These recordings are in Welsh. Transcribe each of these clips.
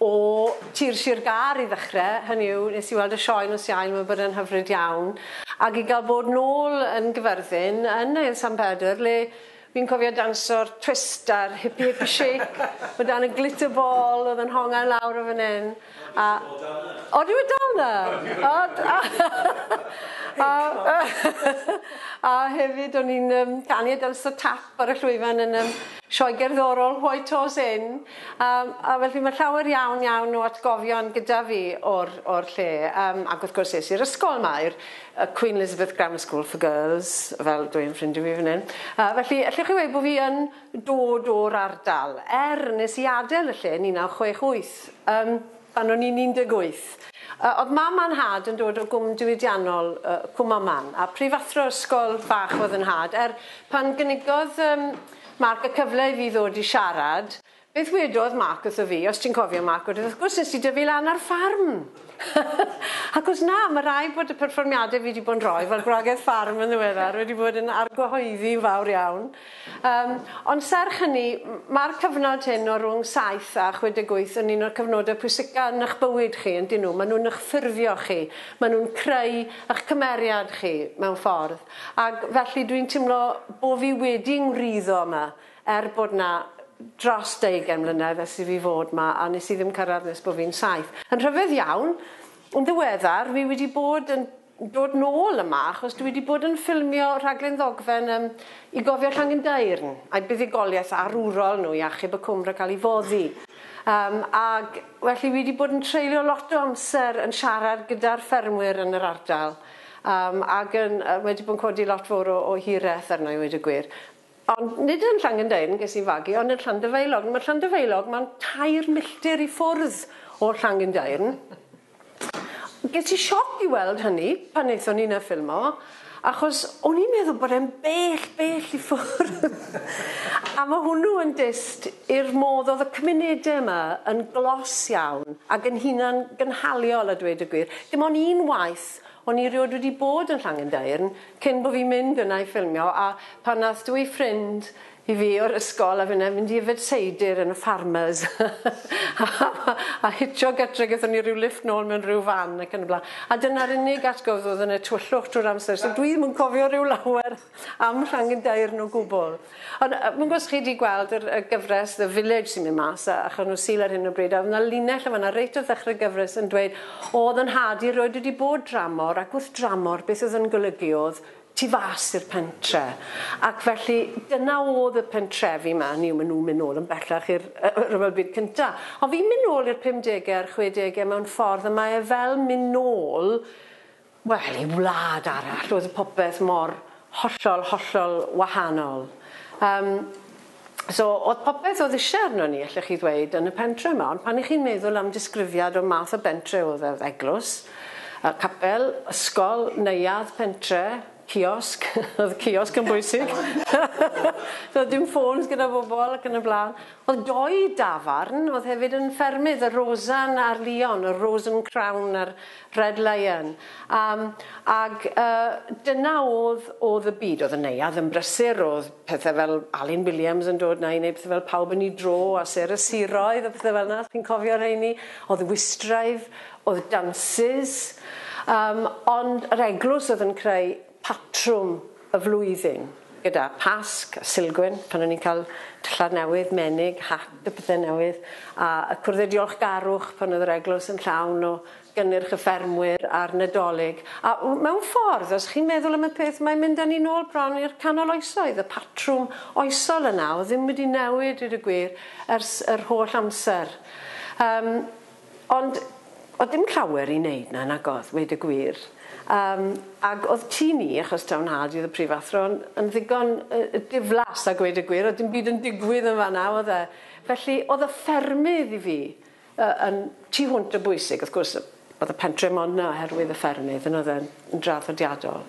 O tir Sir Gâr i ddechre, hynny yw, nes i weld y sioe nos Iau, mae'n bod yn hyfryd iawn. Ac i gael bod nôl yn Gyfyrddin, yn Ael San Pedr, le fi'n cofio danso'r twist a'r hippy hippy shake, o dan y glitter ball oedd yn honga'n lawr o fan hyn. A... Ond yw e dal 'na? Ydy e dal 'na? Ond... A... A hefyd o'n i'n yym canu a danso tap ar y llwyfan yn yym sioe gerddorol White Horse Inn. Yym a felly ma' llawer iawn iawn o atgofion gyda fi o'r o'r lle yym ac wrth gwrs es i'r ysgol 'ma i'r yy Queen Elizabeth Grammar School for Girls fel dw i'n ffrindio fi fan 'yn. Yy felly allwch chi weud bo' fi yn dod o'r ardal er nes i adel y lle yn 1968 yym pan o'n i'n 18. Yy o'dd mam a nhad yn dod o gwm diwydiannol yy Cwm Aman a prifathro ysgol bach o'dd 'yn nhad er pan gynigodd yym Mark, y cyfle i fi ddod i siarad, beth wedodd Mark wrtho fi, os ti'n cofio Mark wedyn, wrth gwrs nes di dyfu lan ar ffarm! Ac os na, ma' raid bod y perfformiade fi di bod yn rhoi fel gwragedd ffarm yn ddiweddar wedi bod yn argyhoeddi yn fawr iawn. Yym, ond serch hynny, ma'r cyfnod hyn o rwng saith a chwe deg wyth yn un o'r cyfnode pwysica yn ych bywyd chi, yndyn nhw? Ma' nhw'n ych ffurfio chi, ma' nhw'n creu ych cymeriad chi, mewn ffordd. Ac felly dwi'n timlo bo fi wedi ngwriddo yma er bod 'na dros deugain mlynedd ers i fi fod 'ma a nes i ddim cyrradd nes bo fi'n saith. Yn rhyfedd iawn, yn ddiweddar fi wedi bod yn dod nôl yma achos dwi wedi bod yn ffilmio rhaglen ddogfen yym i gofio Llangendairn a'i buddugoliaeth arwrol nhw i achub y cwm rhag cael ei foddi. Yym ag felly fi wedi bod yn treulio lot o amser yn siarad gyda'r ffermwyr yn yr ardal. Yym ac yn yy wedi bod yn codi lot fowr o o hireth arna i weud y gwir. Ond nid yn Llangendeyrn ges i fagu ond yn Llanddyfeilog. Ma' Llanddyfeilog ma'n tair milltir i ffwrdd o Llangendeyrn. Ges i sioc i weld hynny pan nethon ni 'na ffilmo achos o'n i'n meddwl bod e'n bell bell i ffwrdd. A ma' hwnnw yn dyst i'r modd o'dd y cymunede yma yn glos iawn ag yn hunan gynhaliol a dweud y gwir. Dim ond un waith o'n i erioed wedi bod yn Llangendeyrn cyn bo fi'n mynd yna i ffilmio a pan nath dwy ffrind i fi o'r ysgol a finne mynd i yfed seidr yn y Farmers a hitio gytre gethon ni ryw lifft nôl mewn ryw fan ac yn y blan a dyna'r unig atgof o'dd yn y tywyllwch trw'r amser so dwi ddim yn cofio ryw lawer. am Ffrangyn Daearn o gwbl. Ond yy fi'n gwybod os chi 'di gweld yr y gyfres The Village sy'n mynd mas a achos nhw Sul ar hyn o bryd a o'dd 'na linell yn fanna reit wrth ddechre'r gyfres yn dweud o o'dd 'yn nhad i erioed wedi bod dramor ac wrth dramor beth o'dd yn golygu o'dd tu fas i'r pentre ac felly dyna o'dd y pentrefi 'ma hynny yw ma' nhw'n mynd nôl yn bellach i'r yy y rhyfel byd cynta ond fi'n mynd nôl i'r pumdege a'r chwedege mewn ffordd a mae e fel mynd nôl Wel, i wlad arall oedd popeth mor hollol, hollol wahanol. Yym, so oedd popeth oedd isie arnon ni, allech chi ddweud, yn y pentre yma, ond pan 'ych chi'n meddwl am disgrifiad o math o bentre oedd e, oedd eglwys, yy capel, ysgol, neuadd, pentre, ciosg, oedd ciosg yn bwysig, doedd dim ffôns gyda bobl ac yn y blaen. Oedd dou dafarn oedd hefyd yn ffermydd, y Rosan a'r Lion, y Rose and Crown a'r Red Lion. Yym ag yy dyna o'dd o'dd y byd. O'dd y neuadd yn brysur o'dd pethe fel Alun Williams yn dod 'na i neud pethe fel Pawb yn 'i Dro a Sêr y Siroedd a pethe fel 'na chi'n cofio rheini? O'dd Wistraidd o'dd dansys yym ond yr eglws o'dd yn creu patrwm y flwyddyn. Gyda Pasg a Silgwyn, pan o'n ni'n cael dillad newydd, menig, hat a pethe newydd, a y cwrddau diolchgarwch pan oedd yr eglwys yn llawn o gynnyrch y ffermwyr a'r Nadolig. A mewn ffordd, os chi'n meddwl am y peth, mae'n mynd â ni nôl bron i'r canol oesoedd. Y patrwm oesol yna, oedd ddim wedi newid, dweud y gwir, ers yr holl amser. Yym. Ond o'dd dim llawer i neud 'na nag o'dd, weud y gwir. Yym ag o'dd tŷ ni, achos taw 'nhad i o'dd y prifathro, yn yn ddigon yy diflas a gweud y gwir, o'dd dim byd yn digwydd yn fan 'na o'dd e? Felly o'dd y ffermydd i fi yy yn tu hwnt o bwysig, wrth gwrs yy o'dd y pentre mond 'na oherwydd y ffermydd on' o'dd e'n yn draddodiadol.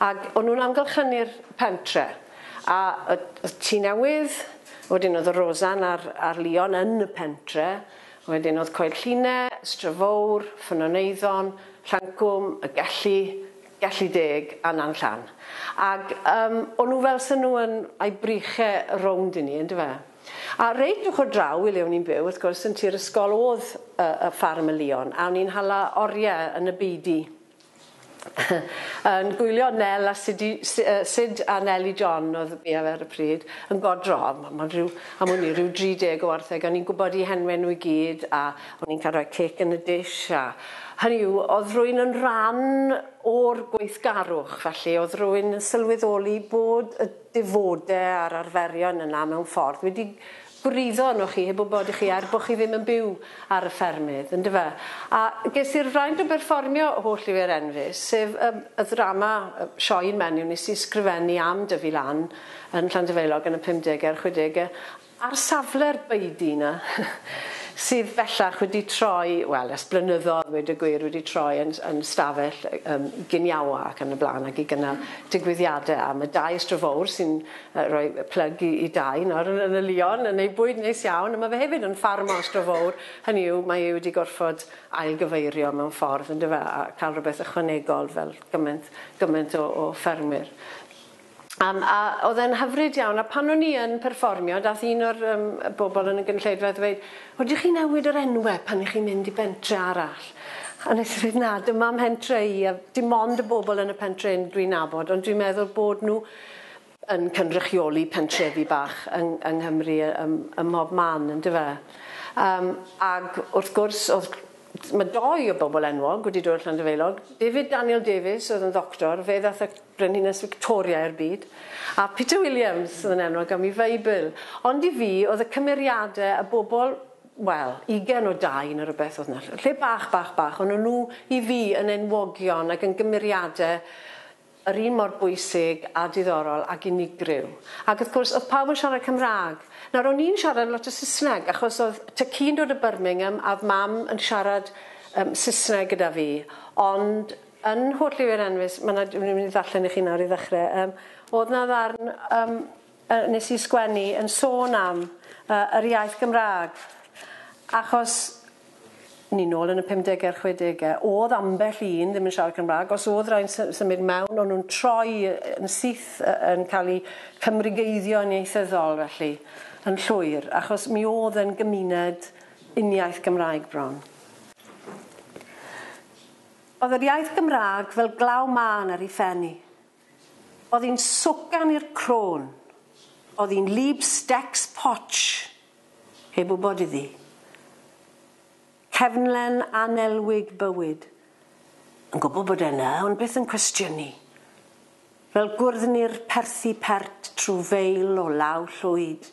Ag o'n nw'n amgylchynu'r pentre a yy o'dd tŷ newydd, wedyn o'dd y Rosan a'r a'r Lion yn y pentre, Wedyn oedd Coed Lline, Strefowr, Ffynnoneiddo'n, Llancwm, Y Gelli, Gelli Deg a Nan Llan. Ac yym o'n nhw fel 'sen nhw yn ai briche rownd i ni yndyfe? A reit ochr draw i le o'n i'n byw wrth gwrs yn tu'r ysgol o'dd yy y ffarm y Lion a o'n ni'n hala orie yn y beudy. yn gwylio Nel a Sidi, Sid a Neli John oedd fi ar y pryd, yn godro. Mae'n rhyw, am wn i, rhyw 30 o wartheg. O'n i'n gwybod i henwe nhw i gyd a o'n i'n cael rhoi cake yn y dish a... Hynny yw, oedd rwy'n yn rhan o'r gweithgarwch, felly oedd rwy'n sylweddoli bod y defode a'r arferion yna mewn ffordd wedi gwryddo arnoch chi heb wybod i chi er bod chi ddim yn byw ar y ffermydd, yn dyfe? A ges i'r fraint o berfformio holl lyfr Enfys, sef y y ddrama, y sioe yn menyw nes i sgrifennu am Dyfi Lan yn Llandyfaelog yn y pumdege a'r chwedege, ar safle'r baedu 'na, sydd bellach wedi troi, wel, ers blynyddodd, weud y gwir, wedi troi yn yn stafell yym giniawa ac yn y blaen ac i gynnal digwyddiade am y dau ystrad fowr sy'n Yy rhoi yy plyg i i Dai nawr yn yn y Lion yn ei bwyd neis iawn a ma' fe hefyd yn ffarm o Astro Fowr, hynny yw mae e wedi gorffod ail gyfeirio mewn ffordd yndyw e a ca'l rwbeth ychwanegol fel gyment gyment o o ffermwyr. Yym a o'dd e'n hyfryd iawn a pan o'n i yn perfformio dath un o'r yym y bobol yn y gynulleidfa a ddweud o dych chi newid yr enwe pan y'ch chi'n mynd i bentre arall? A nes i ddeud na dyma mhentre i a dim ond y bobol yn y pentre 'yn dwi'n nabod ond dwi'n meddwl bod nw yn cynrychioli pentrefi bach yng yng Nghymru yy ym ym mhob man yndyw e? Yym ag wrth gwrs o'dd ma' dou o bobl enwog wedi dod o Llanddefaelog, David Daniel Davies oedd yn ddoctor, fe ddath y Brenhines Victoria i'r byd, a Peter Williams oedd yn enwog am ei Feibl. Ond i fi oedd y cymeriade y bobl wel, ugen o dau ne' rwbeth oedd 'na, ll- lle bach bach bach, o'n nw i fi yn enwogion ag yn gymeriade yr un mor bwysig a diddorol ag unigryw. Ac wrth gwrs, oedd pawb yn siarad Cymraeg. Nawr, o'n i'n siarad lot o Saesneg, achos oedd tŷ ci'n dod o Birmingham, a oedd Mam yn siarad um, Saesneg gyda fi. Ond yn Nhwll Lliwi'r Enfys, mae 'na, dwi'n mynd i ddarllen i chi nawr i ddechrau, um, oedd 'na ddarn um, yy nes i sgwennu yn sôn am yy yr iaith Gymraeg achos ni nôl yn y pumdege a'r chwedege o'dd ambell un ddim yn siarad Cymraeg os o'dd rai'n sy- symud mewn o'n nhw'n troi yn syth yy yn ca'l i Cymrigeiddio'n ieithyddol felly yn llwyr achos mi o'dd yn gymuned uniaith Gymraeg bron. O'dd yr iaith Gymraeg fel glaw mân ar i phen i. Oedd hi'n swcan i'r crôn. Oedd hi'n lieb stecs potsh, heb wybod iddi. Cefnlen annelwig bywyd. Yn gwybod bod e yna, ond byth yn cwestiynu. Fel gwrddni'r perthi pert trwy feil o law llwyd.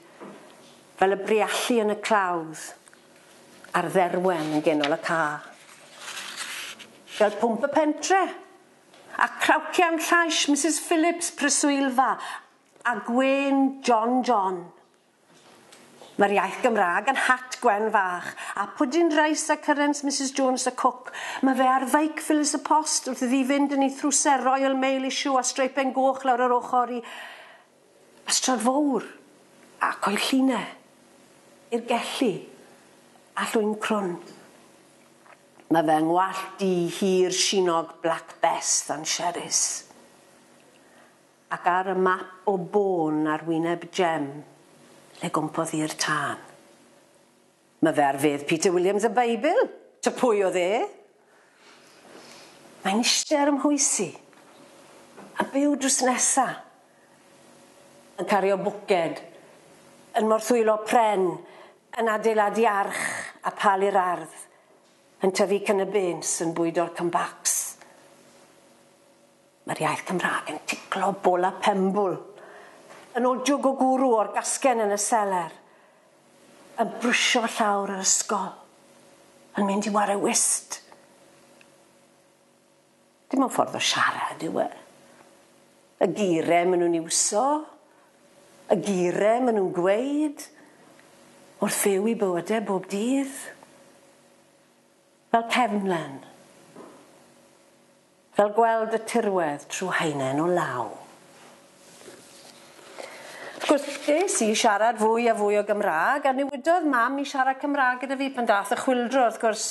Fel y briallu yn y clawdd, a'r dderwen yn genol y cae. Fel pwmp y pentre! A clawcian llais Misus Phillips, preswylfa, a gwên John John. Mae'r iaith Gymraeg yn hat gwen fach, a pwdin reis a cyrens Misus Jones y cwc. Mae fe ar feic Phyllis y Post wrth iddi fynd yn ei thrwser Royal Mail issue a streipen goch lawr yr ochr i Ystrad fowr, a coed lline, i'r gelli, a llwyn crwn. Mae fy ngwallt du hir sinog Black Bess dan Sherris. Ac ar y map o bôn ar wyneb Jem, lle gwmpodd i'r tân. Mae fe ar fedd Peter Williams y Beibl! Ta pwy oedd e? Mae'n ishte ar 'y mhwys i. A byw drws nesa. Yn cario bwced. Yn morthwylo pren. Yn adeiladu arch a pal i'r ardd. Yn tyfu cynabins, yn bwydo'r cymbacs. Mae'r iaith Cymraeg yn ticlo bola penbwl. Yn ojwg o gwrw o'r gasgen yn y seler. Yn brwsio fy llawr yr ysgol. Yn mynd i ware whist. Dim ond ffordd o siarad yw e. Y geiriau maen nhw'n iwso. Y geiriau maen nhw'n gweud. Wrth fyw i bywydau bob dydd. Fel cefnlen. Fel gweld y tirwedd trw haenen o law. Wrth gwrs, es i i siarad fwy a fwy o Gymraeg, a newidodd Mam i siarad Cymraeg gyda fi pan daeth y chwyldro, wrth gwrs,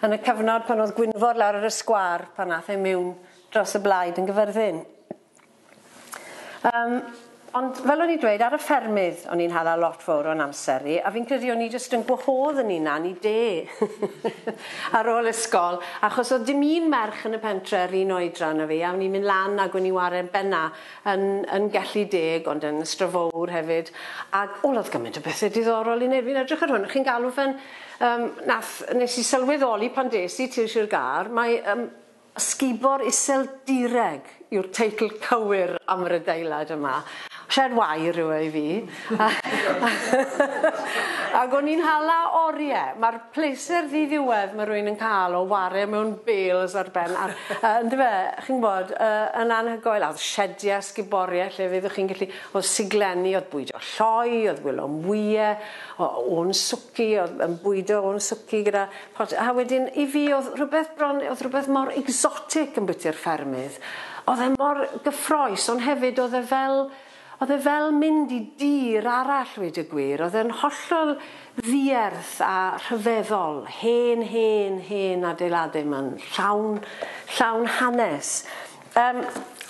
yn y cyfnod pan oedd Gwynfor lawr ar y sgwâr, pan ath e miwn dros y blaid yn Gyfyrddin. Yym, ond fel o'n i'n dweud, ar y ffermydd o'n i'n hala lot fowr o'n amser i, a fi'n credu o'n i jyst yn gwahodd yn hunan i de ar ôl ysgol, achos o'dd dim un merch yn y pentre yr un oedran â fi, a o'n i'n mynd lan ag o'n i'n ware benna yn yn Gelli Deg, ond yn Ystrad Fowr hefyd, ag o o'dd gyment o bethe diddorol i neud, fi'n edrych ar hwn a chi'n galw fe'n yym nath nes i sylweddoli pan des i tir Sir Gâr, mae yym Ysgubor Iseldireg yw'r teitl cywir am yr adeilad yma. Shed wair yw e i fi. Ac o'n i'n hala orie. Mae'r pleser ddiddiwedd mae rhywun yn cael o ware mewn bales ar ben ar yy yndyfe? Yy chi'n gwybod yy yn anhygoel. A o'dd shedie a sguborie lle fyddwch chi'n gallu... O'dd siglenni, o'dd bwydo lloi, o'dd gwilom ŵie o- o'n swci, o'dd yn bwydo o'n swci gyda Ch'od, a wedyn i fi o'dd rhwbeth bron, o'dd rhwbeth mor exotic yn bwyty'r ffermydd. O'dd e mor gyffrous ond hefyd o'dd e fel, o'dd e fel mynd i dir arall ddweud y gwir. O'dd e'n hollol ddierth a rhyfeddol, hen, hen, hen adeilade 'ma'n llawn, llawn hanes. Yym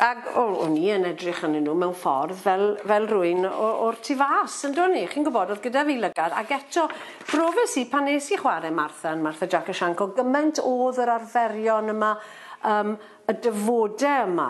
ag o- o'n i yn edrych arnyn nhw mewn ffordd fel fel rywun o o'r tu fas yndo'n i? Chi'n gwbod o'dd gyda fi lygad ag eto profes i pan nes i chware Martha yn Martha Jac a Shanc o' gyment o'dd yr arferion yma yym y dyfode yma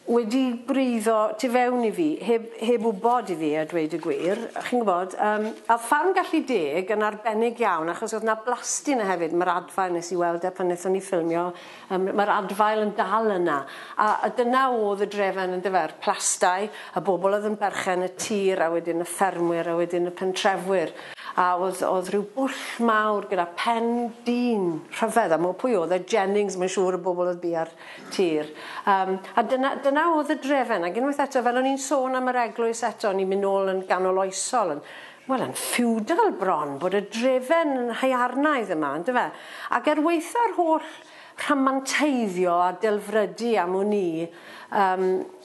wedi gwreiddo tu fewn i fi heb heb wbod i fi a dweud y gwir chi'n gwbod yym a o'dd Ffarm Gallu Deg yn arbennig iawn achos o'dd 'na blasty 'na hefyd ma'r adfail nes i weld e pan nethon ni ffilmio Yym, mae'r adfail yn dal yna. A, a dyna oedd y drefen, yndyfe, a'r plastai, y bobl oedd yn berchen y tir, a wedyn y ffermwyr, a wedyn y pentrefwyr. A oedd, oedd rhyw bwll mawr gyda pen dyn rhyfedd, a mo- pwy oedd e, Jennings, mae'n siŵr, y bobl oedd bia'r tir. Yym, a dyna, dyna oedd y drefen. Ac unwaith eto, fel o'n i'n sôn am yr eglwys eto, ni'n mynd nôl yn ganol oesol, yn Wel yn ffiwdal bron bod y drefen yn haearnaidd yma on'd yfe? Ac er waetha'r holl rhamanteiddio a delfrydu am wn i yym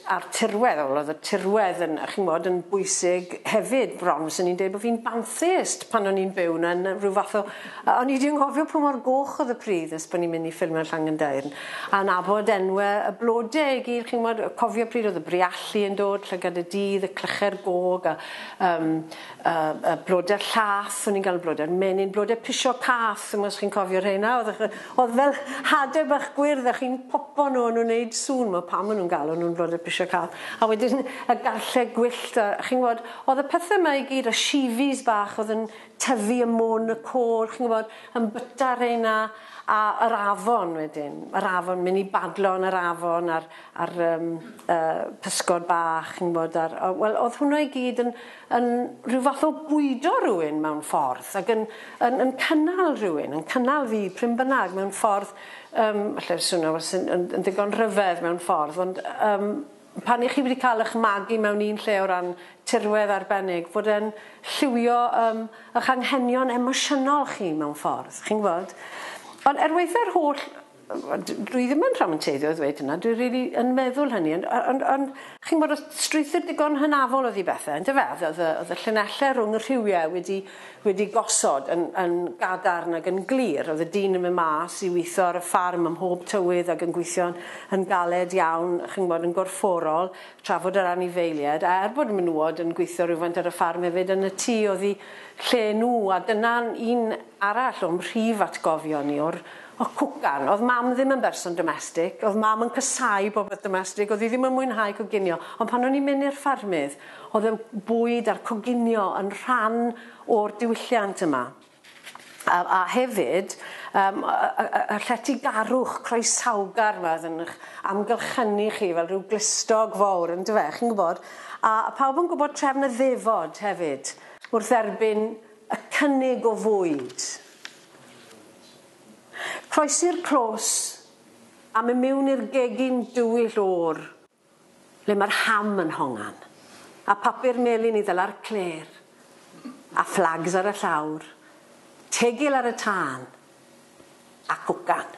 a'r tirwedd wel o'dd y tirwedd yn chi'n w'bod yn bwysig hefyd bron fyswn i'n deud bo' fi'n bantheist pan o'n i'n byw 'na yn yy ryw fath o yy o'n i 'di anghofio pa mor goch o'dd y pridd nes bo' ni'n myn' i ffilmio Llangendairn a nabod enwe y blode i gyd chi'n w'bod yy cofio pryd o'dd y Briallu yn dod llygad y dydd y clyche'r gog a um, uh, uh, bloder llath, o'n i'n gael bloder menyn, bloder pisio cath, os chi'n cofio rheina, oedd, oedd fel hade bach gwyrdd, a chi'n popo nhw, o'n nhw'n neud sŵn, mae pam o'n nhw'n galw nhw'n bloder pisio cath, a wedyn y garllau gwyllt, a chi'n gwybod, oedd y pethau yma i gyd, a shifis bach, oedd yn tyfu y mwn, y côr, chi'n gwybod, yn byta reina, a yr afon wedyn, yr afon, mynd i badlo yn yr afon, a'r, a'r yym y pysgod bach chi'n gwbod a'r o- wel o'dd hwnna i gyd yn yn rhyw fath o bwydo rywun mewn ffordd ag yn yn yn cynnal rhywun yn cynnal fi prin bynnag mewn ffordd yym alle swno fel sy'n yn yn ddigon rhyfedd mewn ffordd ond yym pan 'ych chi wedi ca'l 'ych magu mewn un lle o ran tirwedd arbennig bod e'n lliwio yym 'ych anghenion emosiynol chi mewn ffordd chi'n gwbod? Ond er weitha'r holl Wel d- dwi ddim yn rhamanteiddio a ddweud hynna dwi rili yn meddwl hynny ond o- ond ond chi'mbod o'dd strwythur digon hynafol o'dd i bethe yndyfe o'dd o'dd y o'dd y llinelle rwng y rhiwie wedi wedi gosod yn yn gadarn ag yn glir o'dd y dyn yn myn' mas i witho ar y ffarm ym mhob tywydd ag yn gweithio'n yn galed iawn chi'mbod yn gorfforol trafod yr anifeilied a er bod y menywod yn gweithio rywfaint ar y ffarm hefyd yn y tŷ oddi lle n'w a dyna'n un arall o'm mhrif atgofion i o'r O cwcan. O'dd Mam ddim yn berson domestig. O'dd Mam yn casau popeth domestig. O'dd 'i ddim yn mwynhau coginio. Ond pan o'n i'n mynd i'r ffermydd, o'dd y bwyd a'r coginio yn rhan o'r diwylliant yma. A a hefyd yym y y y y lletygarwch croesawgar 'ma o'dd yn 'ych amgylchynu chi fel rhyw glustog fowr yndyfe, chi'n gwbod? A a pawb yn gwbod trefn y ddefod hefyd wrth dderbyn y cynnig o fwyd. Croesi'r clos a mynd miwn i'r gegin dywyll oer, le mae'r ham yn hongan, a papur melyn i ddala'r clêr, a fflags ar y llawr, tegil ar y tân, ac ogan.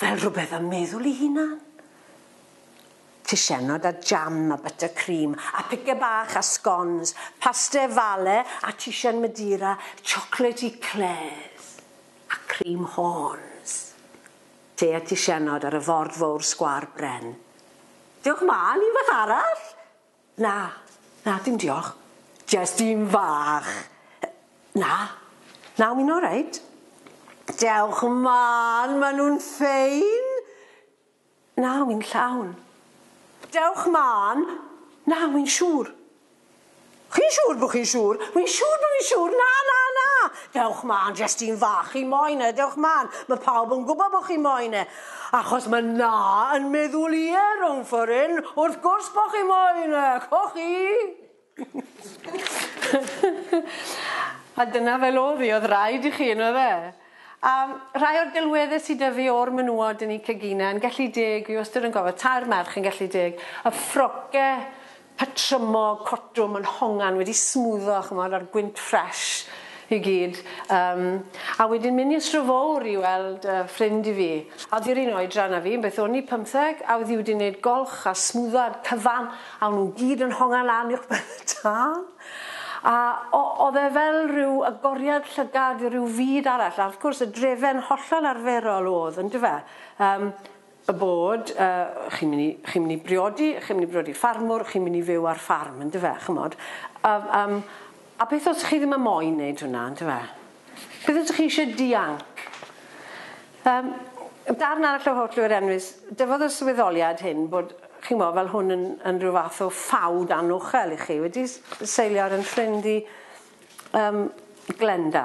Fel rhywbeth am meddwl i hunan. Tisianod a jam a butter cream a pice bach a scones, paste falle a tisian Madeira, chocolate eclairs a cream horns. Te a tisianod ar y ford fowr sgwâr bren. Diolch mam, unwaith arall! Na, na dim diolch. Jest un fach. Na, na wi'n oreit. Dewch mân, ma' nhw'n ffein. Na, wi'n llawn. Dewch mân. Na, wi'n siŵr. Chi'n siŵr bo' chi'n siŵr? Wi'n siŵr bo' fi'n siŵr. Na, na, na! Dewch mân, jest un fach. Chi moyn e, dewch mân. Ma' pawb yn gwbo bo' chi moyn e. Achos ma' 'na yn meddwl ie rownd ffor 'yn wrth gwrs bo' chi moyn e, c'o' chi? A dyna fel o'dd 'i o'dd raid i chi on'd o'dd e? A rhai o'r delwedde sy 'dy fi o'r menywod yn 'u cegine yn gellu deg fi wastod yn gofio tair merch yn gellu deg y ffroce patrymog cotwm yn hongan wedi smwddo ch'mod a'r gwynt ffresh i gyd yym a wedyn mynd i'r Sir Fowr i weld yy ffrind i fi a oedd hi'r un oedran a fi beth o'n i pymtheg a oedd hi wedi wneud golch a smwddo a'r cyfan a o'n nhw gyd yn hongan lan uwch ben y tân a o- oedd e fel rhyw agoriad llygad i ryw fyd arall a wrth gwrs y drefen hollol arferol oedd yndyfe yym y bod yy chi'n myn' i chi'n myn' i briodi chi'n myn' i briodi ffarmwr chi'n myn' i fyw ar ffarm yndyfe ch'mod a yym a beth os chi ddim yn moyn neud hwnna yndyfe? Beth os chi isie dianc? Yym yn darn arall o Holl Oer Enfys dyfodd y swyddoliad hyn bod chi'n mo' fel hwn yn yn rhyw fath o ffawd anochel i chi wedi s- seilio ar 'yn ffrind i yym Glenda.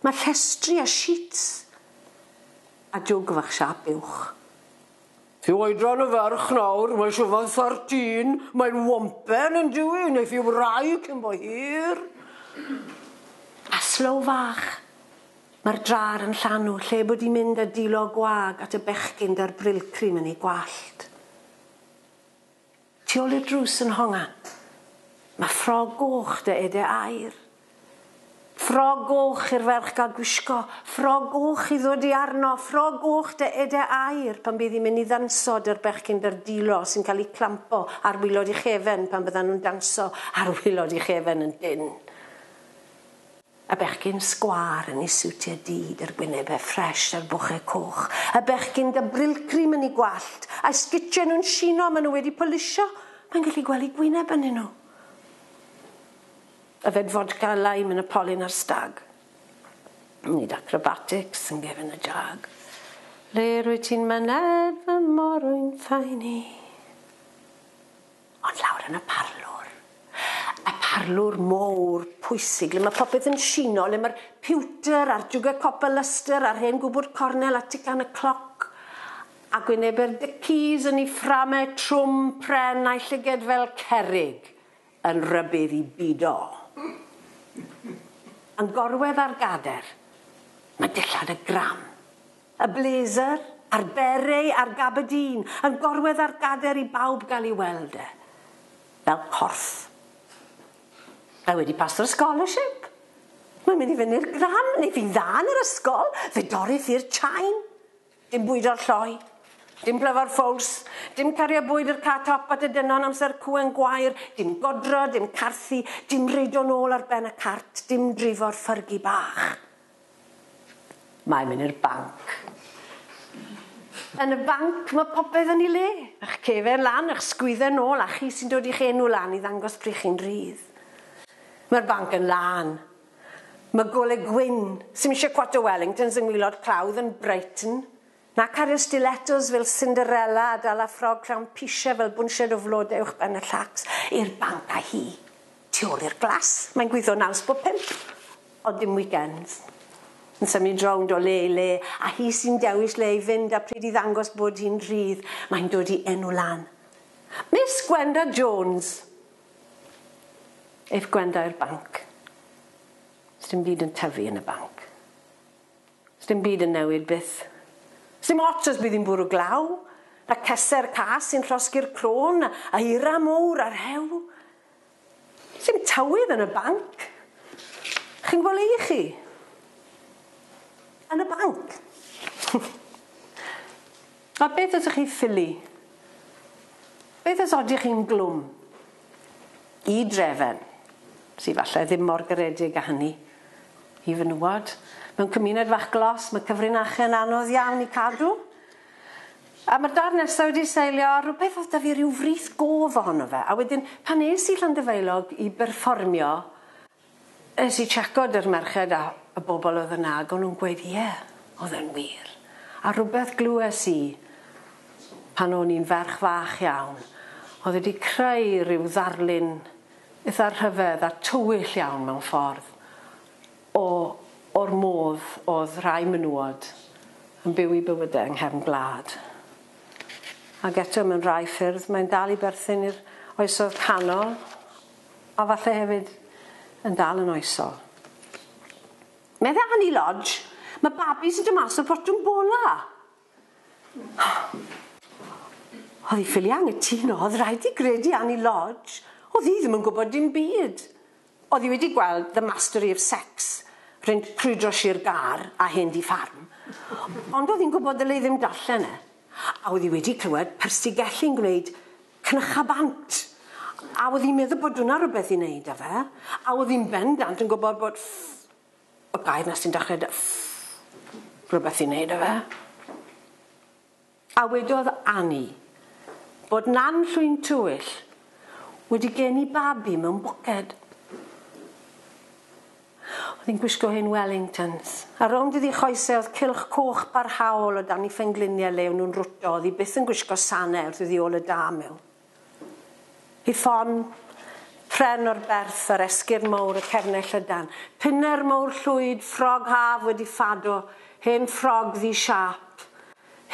Mae llestri a sheets a jwg fach siâp uwch. Ti oedran yn ferch nawr, mae siŵr fod thirteen, mae'n wompen yn dyw 'i, neith 'i wrau cyn bo hir. A slow fach. Mae'r drar yn llanw, lle bod 'di mynd a dilo gwag at y bechgyn 'da'r brillcream yn ei gwallt. Tu ôl i'r drws yn honga. Ma' ffrog goch 'da ede aur. Ffrog goch i'r ferch ga'l gwisgo, ffrog goch i ddod i arno, ffrog goch 'da ede aur pan bydd hi'n mynd i ddanso 'da'r bechgyn berdilo sy'n cael eu clampo ar wilod ei chefn pan fyddan nhw'n danso ar wilod ei chefn yn dynn. Y bechgyn sgwâr yn ei siwtiau du, d'r gwynebau ffresh a'r bochau coch. Y bechgyn 'da brillcream yn eu gwallt, a'u sgitiau nhw'n shino a maen nhw wedi polisio, mae'n gallu gweld eu gwyneb ynnyn nhw. Yfed fodca a lime yn y polyn a'r stag. Yn neud acrobatics yn gefn y jag. Le rwyt ti'n myned fy morwyn ffyni? Ond lawr yn y parlwr. Y parlwr mowr, pwysig, le mae popeth yn shino, le mae'r piwter a'r jwgau copr Lustre a'r hen gwbwrd cornel a tican y cloc, a gwynebe'r Dickies yn ei fframau trwm, pren, a'i llyged fel cerrig yn rybudd i bido. Yn gorwedd ar gader, mae dillad y gram. Y blazer, a'r beret, a'r gaberdîn, yn gorwedd ar gader i bawb gael ei weld e. Fel corff. Mae wedi paso'r scholarship! Mae'n mynd i fyny'r gran, neu fi'n dda yn yr ysgol, fe dorrith i'r chain. Dim bwydo'r lloi. Dim plyfo'r ffowls. Dim cario bwyd i'r car top at y dynon amser cŵen gwair. Dim godro, dim carthu, dim reidio nôl ar ben y cart, dim drifo'r ffyrgi bach. Mae myn i'r banc. Yn y banc ma popeth yn i le, ych cefen lan, ych sgwydde nôl a chi sy'n dod i'ch enw lan i ddangos pryd chi'n rhydd. Mae'r banc yn lân. Mae gole gwyn, sy'm eisiau cwat o Wellingtons yng ngwilod clawdd yn Brighton, Na cario stilettos fel Cinderella a dala ffrog clown pisiau fel bwnsied o flode uwchben y llacs i'r banc a hi tu ôl i'r glas. Mae'n gweithio naws bob pump, ond dim weekends. Yn symud rownd o le i le, a hi sy'n dewis le i fynd a pryd i ddangos bod hi'n rhydd, mae'n dod i enw lan. Miss Gwenda Jones! Aeth Gwenda i'r banc. Sdim byd yn tyfu yn y banc. Sdim byd yn newid byth. Sdim ots os bydd hi'n bwrw glaw, a ceser cas sy'n llosgi'r crôn, a eira mowr a rhew. Sdim tywydd yn y banc. Chi'n gwbod le i chi? Yn y banc. A beth ydych chi ffili? Beth os odych chi'n glwm? I Drefen, sy falle ddim mor garedig â hynny, i fenywod, mewn cymuned fach glos, mae cyfrinache'n anodd iawn i cadw. A mae'r dad nesaf wedi seilio ar rhywbeth oedd 'da fi ryw frith gof ohono fe, a wedyn pan es i Llandyfaelog i berfformio, Es i checo 'dy'r merched a y bobl oedd yna ag o'n nhw'n gweud ie, oedd e'n wir. A rhywbeth glywes i pan o'n i'n ferch fach iawn oedd wedi creu rhyw ddarlun itha rhyfedd a tywyll iawn mewn ffordd o o'r modd oedd rhai menywod yn byw i bywyde yng nghefn gwlad. Ag eto mewn rhai ffyrdd mae'n dal i berthyn i'r oesoedd canol. A falle hefyd yn dal yn oesol. Medde Annie Lodge, Mae babis yn dod mas o fotwm bola! Oedd hi ffili angytuno, oedd rhaid ti gredu Annie Lodge, oedd hi ddim yn gwybod dim byd. Oedd hi wedi gweld The Mastery of Sex, rhynt crwydro sir Gâr a hen dŷ ffarm, ond oedd hi'n gwybod ddylai ddim darllen e. A oedd hi wedi clywed Persigelli'n gwneud cnycha bant. A oedd hi'n meddwl bod hwnna rhywbeth i wneud â fe. A oedd hi'n bendant yn gwybod bod ff-, y gair 'na sy'n dechrau 'da ff-, rhywbeth i wneud â fe. A wedodd Anni bod Nan Llwyn Tywyll wedi geni babi mewn bwced. Oedd hi'n gwisgo hen Wellingtons. A rownd iddi choesau oedd cylch coch barhaol o dan ei phengliniau le o'n nhw'n rwto, oedd hi byth yn gwisgo sanau wrth iddi ôl y da mewn. Hi ffon, pren o'r berth ar esgyrn mawr y cefnau llydan. Pinner mawr llwyd, ffrog haf wedi ffado, hen ffrog ddu siâp,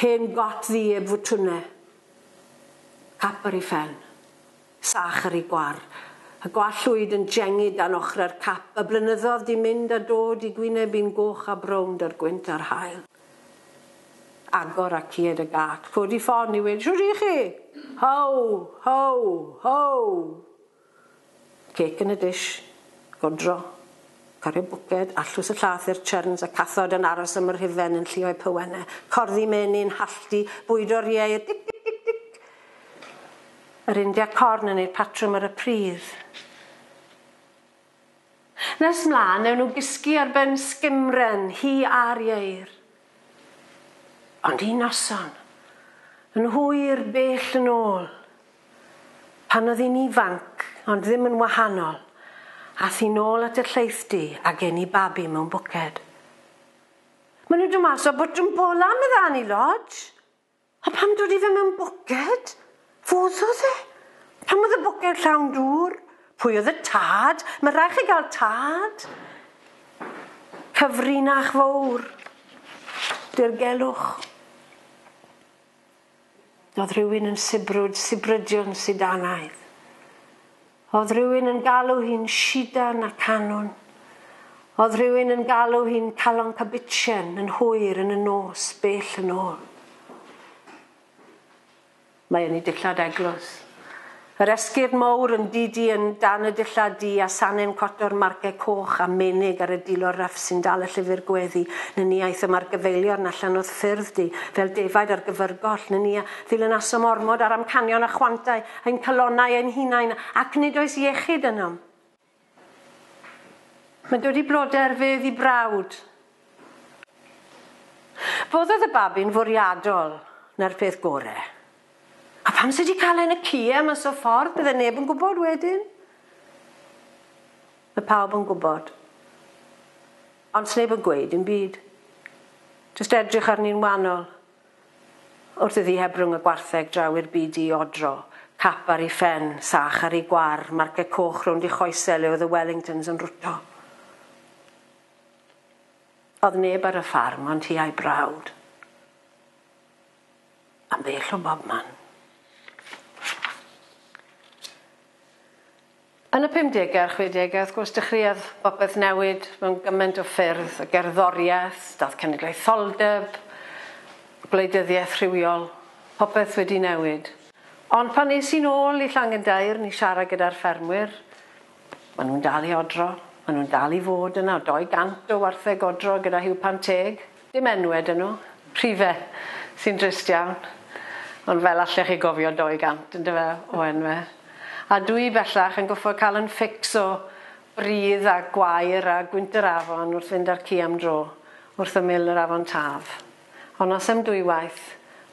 hen got ddu eb fwtwnau. Cap ar ei phen. Sach ar ei gwar. Y gwallwyd yn jengid dan ochrau'r cap, y blynyddodd 'di mynd a dod i gwyneb i'n goch a brown da'r gwynt a'r haul. Agor a cied y gât, codi ffon i weud, Shwt i chi? How! How! How! Cêc yn y dish. Godro. Cario bwced, allws y llath i'r churns, y cathod yn aros am yr hufen yn llio'u pywennau, corddi meny'n halltu, bwydo'r ieir, dic, dic, dic, dic! Yr India Corn yn eu patrwm ar y pridd. Nes 'mlan, newn nhw gysgu ar ben sgimren, hi a'r ieir. Ond un noson, yn hwyr bell yn ôl, pan oedd hi'n ifanc ond ddim yn wahanol, ath hi nôl at y llaethdy a gen i babi mewn bwced. Ma' nhw'n dod mas o bwtwm bola, medda Annie Lodge. A pam dod i fe mewn boced? Fodd odd e. Pam oedd y boced llawn dŵr? Pwy oedd y tad? Mae rhaid chi gael tad. Cyfrinach fowr. Dirgelwch. Oedd rhywun yn sibrwd, sibrydion sidanaidd. O'dd rhywun yn galw hi'n Shidan a Canwn. O'dd rhywun yn galw hi'n Calon Cabitchen yn hwyr yn y nos bell yn ôl. Mae yn ei dillad eglws. Yr esgyrn mowr yn didi yn dan y dillad du a sanem coto'r marce coch a menig ar y dilo ryff sy'n dal y llyfr gweddi nyn ni aethom ar gyfeiliorn allan o'th ffyrdd du fel defaid ar gyfyrgoll nyn ni a ddilynasom ormod ar amcanion a chwantau Ein calonnau ein hunain, ac nid oes iechyd ynom. Mae'n dod i broder fe ddi brawd. Foddodd y babi'n fwriadol, na'r peth gore. A pam sydd wedi cael e yn y cie mas o ffordd, bydde neb yn gwybod wedyn? Mae pawb yn gwybod. Ond sneb yn gweud dim byd. Just edrych arni'n wanol. Wrth iddi heb rwng y gwartheg draw i'r byd di-odro, cap ar 'i phen, sach ar 'i gwar, marceg coch rownd 'i choese le oedd y Wellingtons yn rwto. Oedd neb ar y ffarm ond hi a'i brawd. Am bell o bobman. Yn y pumdegau a'r chwedegau, wrth gwrs, dechreuodd popeth newid mewn gymaint o ffyrdd, y gerddoriaeth, dath cenedlaetholdeb, gwleidyddiaeth rhywiol, popeth wedi newid. Ond pan es i'n ôl i Llangendairn i siarad gyda'r ffermwyr, maen nhw'n dal i odro, maen nhw'n dal i fod yna, o 200 o wartheg odro gyda Huw Pan Teg. Dim enwe 'da nhw. Rhife, sy'n drist iawn. Ond fel allech chi gofio 200 yndyfe o enwe. A dw i bellach yn goffod cael 'yn fix o bridd a gwair a gwynt yr afon wrth fynd â'r ci am dro wrth ymyl yr afon Taf. Ond noson dwywaith,